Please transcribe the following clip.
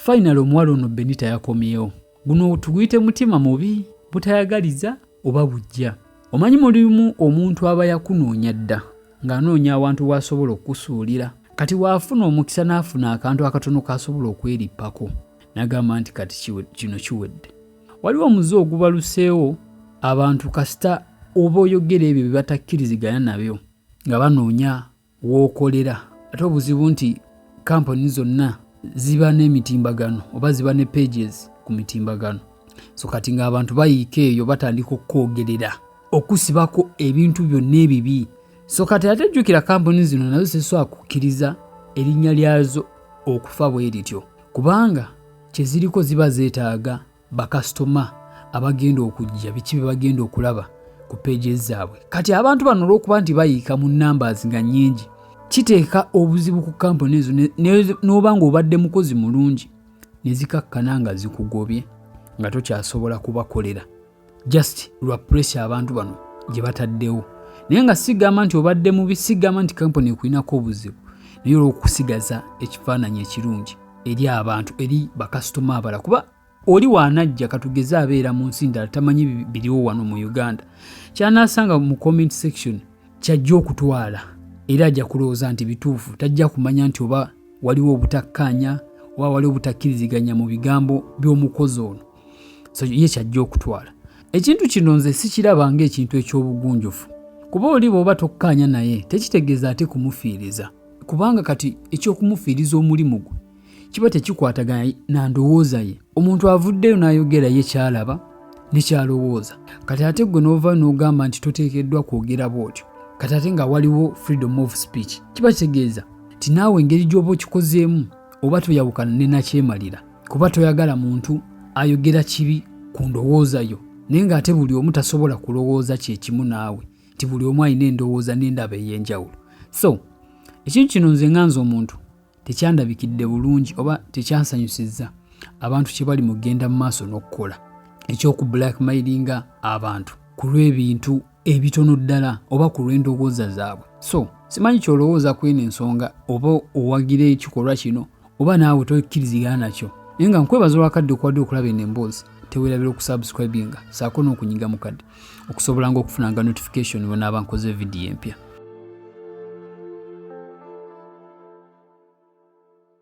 Finally omuwala ono Benita yakomyewo. Guno tuguyite mutima mubi, butayagaliza oba bujja. Omanyi mulimu omuntu aba yakunoonya dda ng'anoonya awantu w'asobola okukusuulira. Kati waafuna omukisa n'afuna akantu akatono k'asobola okwerippako n'agamba nti kati kino kiwedde. Waliwo omuze ogubaluseewo abantu kasita oba oyogera ebyo bye batakkiriziganya nabyo nga banoonya w'okolera ate obuzibu nti kampani zonna ziba n'emitimbagano oba ziba ne pages ku mitimbagano so kati ng'abantu bayiika eyo batandika okukwogerera okusibako ebintu byonna ebibi so kati ate jjukira kampuni zino nazo ziseswa kukkiriza erinnya lyazo okufa bwe lityo kubanga kye ziriko ziba zeetaaga bakasitoma abagenda okujja biki bye bagenda okulaba ku peegi zaabwe kati abantu bano olw'okuba nti bayiika mu numbers nga nnyingi kiteeka obuzibu ku kampuni ezo n'oba ng'obadde mukozi mulungi ne zikakkana nga zikugobye nga tokyasobola kubakolera just lwa pressure abantu bano gye bataddewo naye nga sigamba nti obadde mubi sigamba nti kampuni ekulinako obuzibu naye olwokusigaza ekifaananyi ekirungi eri abantu eri bakasitoma abala kuba oli waanajja katugeze abeera mu nsi ndala tamanyi biriwo wano mu uganda kyanaasanga mu comment section kyajja okutwala era ajja kulowooza nti bituufu tajja kumanya nti oba waliwo obutakkaanya oba waliwo obutakkiriziganya mu bigambo by'omukozi ono so ye kyajja okutwala ekintu kino nze sikiraba ng'ekintu eky'obugunjufu kuba oli bw'oba tokkaanya naye tekitegeeza ate kumufiiriza kubanga kati eky'okumufiiriza omulimu gwe kiba tekikwatagana na ndowooza ye omuntu avuddeyo n'ayogera ye kyalaba ne kyalowooza kati ate ggwe n'ova n'ogamba nti toteekeddwa kwogera bw'otyo kati ate nga waliwo freedom of speech kiba kitegeeza nti naawe engeri gy'oba okikozeemu oba toyawukana ne nakyemalira kuba toyagala muntu ayogera kibi ku ndowooza yo naye ng'ate buli omu tasobola kulowooza kyekimu naawe nti buli omu alina endowooza n'endaba ey'enjawulo so ekintu kino nze nga nze omuntu tekyandabikidde bulungi oba tekyansanyusizza abantu kye bali mugenda mu maaso n'okukola eky'oku blackmailinga abantu ku lw'ebintu ebitono ddala oba ku lw'endowooza zaabwe so simanyi kyolowooza ku eno ensonga oba owagira ekikolwa kino oba naawe tokkirizigana nakyo naye nga nkwebaza olwakadde okuwadde okulaba eno emboozi tewerabira okusubscribinga saako n'okunyiga mukadde okusobola nga okufunanga notification wenaaba nkoze vidiyo empya